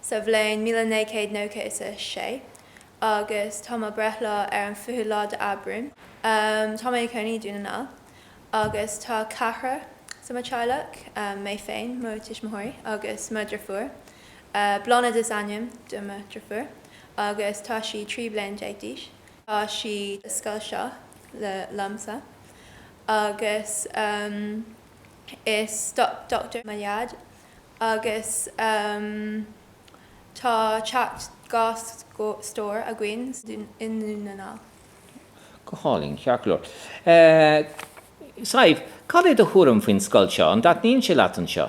sa bhliain míle naoi gcéad nócha is a sé, agus tá mo bhreithlá ar an fichiú lá de Aibreán. Tá mé a cónaí i Dún na nGall, agus tá ceathrar i mo teaghlach, mé féin, mo tuismitheoirí agus mo dhriofúr. Blánaid is ainm do mo dhriofúr, agus tá sí trí bliana déag d'aois. Tá sí sa scoil seo liomsa, agus is dochtúir mo dhaid. agus tá teach dhá stór againn i nDún na nGall. Go hálainn, ceart go leor. Sadhbh, cad é do thuairim faoin scoil seo? An dtaitníonn sé leat anseo?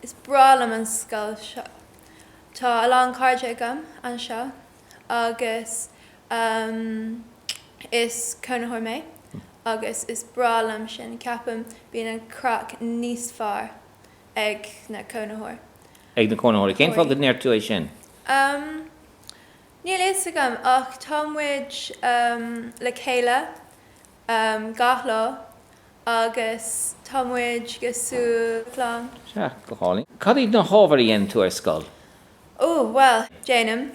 Is breá liom an scoil seo. Tá a lán cairde agam anseo agus is cónaitheoir mé agus is breá liom sin. Ceapaim bíonn an craic níos fearr ag na cónaitheoir. ag na cónaitheoirí. Cén fáth go ndeir tú é sin? Um. níl fhios agam ach tá muid um le chéile um gach lá agus tá muid cosúil le clann. Sea, go hálainn. Cad iad na hábhair a dhéanann tú ar scoil? Oh, bhuel, déanaim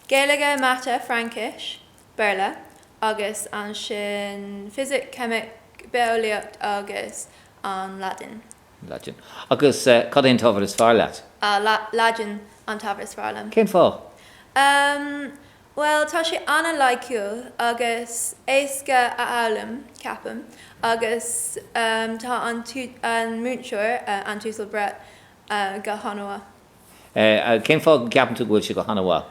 Gaeilge, Mata, Fraincis, Béarla agus ansin Fisic, Ceimic, Bitheolaíocht agus an Laidin. Laidin, Agus cad é an t-ábhar is fearr leat? Laidin an t-ábhar is fearr liom. Cén fáth? Bhuel, tá sé an-loighciúil agus éasca a fhoghlaim, ceapaim, agus tá an múinteoir, an tUasal Brett, go han-mhaith. Cén fáth go gceapann tú go bhfuil sé go han-mhaith?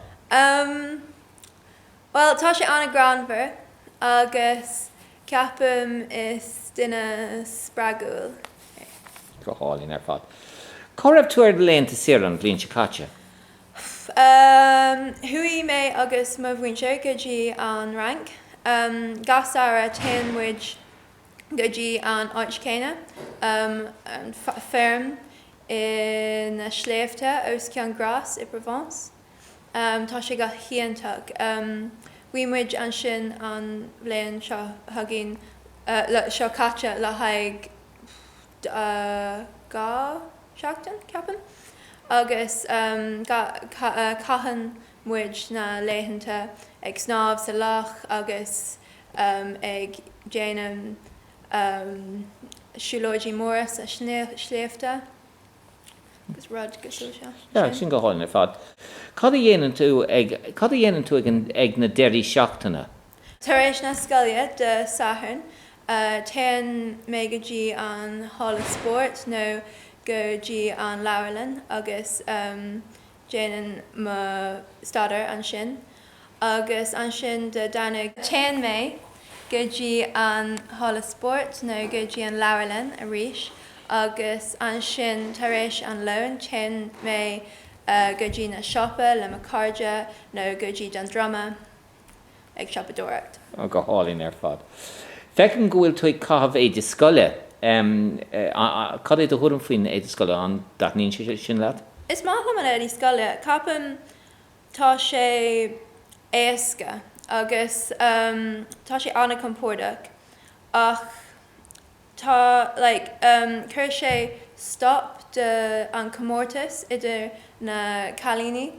Bhuel, tá sé an-ghreannmhar agus ceapaim is duine spreagúil é. Go hálainn ar fad. Cá raibh tú ar laethanta saoire an bhliain seo caite? Chuaigh mé agus mo mhuintir go dtí an Fhrainc. Gach samhradh téann muid go dtí an áit céanna, an fheirm sna sléibhte os cionn Grasse i bProvence. Tá sé go hiontach. Bhí muid ansin an bhliain seo chugainn, seo caite, le haghaidh dhá sheachtain, ceapaim, agus caitheann muid na laethanta ag snámh sa loch agus ag déanamh siúlóidí móra sna sléibhte. Agus rud cosúil sin. Yeah, sin go hálainn ar fad. Cad a dhéanann tú ag, cad a dhéanann tú ag, ag na deirí seachtaine? Tar éis na scoile Dé Sathairn, téann mé go dtí an halla spóirt nó go dtí an leabharlann agus déanann mo staidéar ansin agus ansin Dé Domhnaigh. téann mé go dtí an halla spóirt nó go dtí an leabharlann arís agus ansin tar éis an lón téann mé go dtí na siopa le mo cairde nó go dtí Dún Droma ag siopadóireacht. Oh, go hálainn ar fad. Feicim go bhfuil tú ag caitheamh éide scoile. Cad é do thuairim faoin éide scoile? An dtaitníonn sé sin leat? Is maith liom an éide scoile. Ceapaim tá sé éasca agus tá sé an-chompordach ach tá, like, em, chuir sé stop de an comórtas idir na cailíní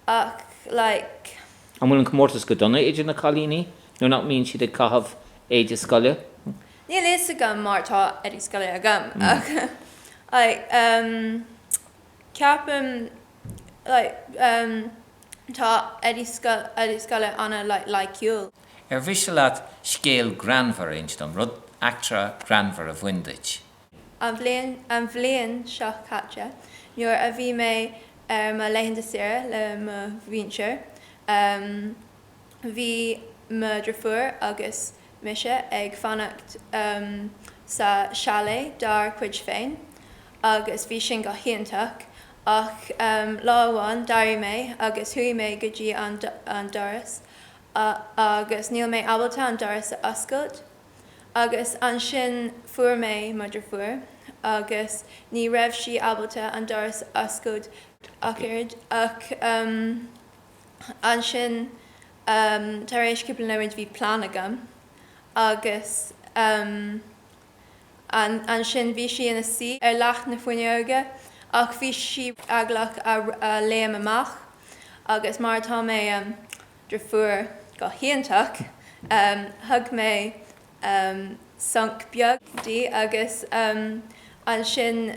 ach, like. An bhfuil an comórtas go dona idir na cailíní nuair nach mbíonn siad ag caitheamh éide scoile? Hm. Níl fhios agam mar tá éide scoile agam ach, like, em, ceapaim, like, em, Tá éide scoile an-loighciúil. Ar mhiste leat scéal greannmhar a insint dom, rud, eachtra ghreannmhar a bhain duit? An bhliain seo caite, nuair a bhí mé ar mo laethanta saoire le mo mhuintir, bhí mo dhriofúr agus mise ag fanacht sa chalet dár cuid féin agus bhí sin go hiontach ach lá amháin d'éirigh mé agus chuaigh mé go dtí an doras agus níl mé ábalta an doras a oscailt agus ansin fuair mé mo dhriofúr agus ní raibh sí ábalta an doras a oscailt ach oiread ach ansin tar éis cúpla nóiméid bhí plean agam agus ansin bhí sí ina suí ar leac na fuinneoige ach bhí sí eaglach a léim amach agus mar atá mé driofúr go hiontach thug mé sonc beag di agus ansin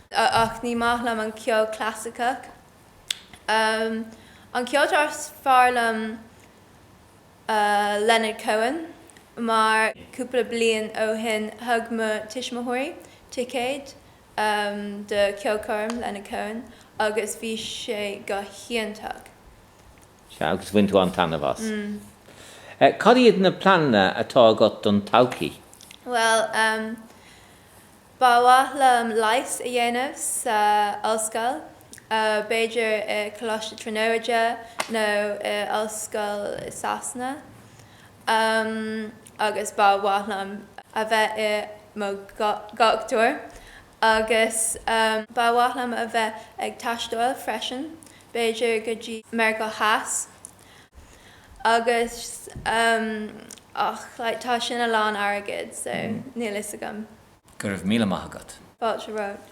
ach ní maith liom an ceol clasaiceach. An ceoltóir is fearr liom Leonard Cohen mar cúpla bliain ó shin thug mo tuismitheoirí ticéid do cheolchoirm Leonard Cohen agus bhí sé go hiontach. Sea, agus bhain tú an-taitneamh as. Cad iad na pleananna atá agat don todhchaí? Bhuel, Ba mhaith liom leighis a dhéanamh sa ollscoil, b'fhéidir i Coláiste Tríonóide nó i ollscoil i Sasana, agus ba mhaith liom a bheith i mo dhochtúir, agus ba mhaith liom a bheith ag taisteáil freisin, b'fhéidir go dtí Meiriceá Theas. Agus ehm. ach like tá sin a lán airgead so níl fhios agam. Go raibh míle maith agat. Fáilte romhat.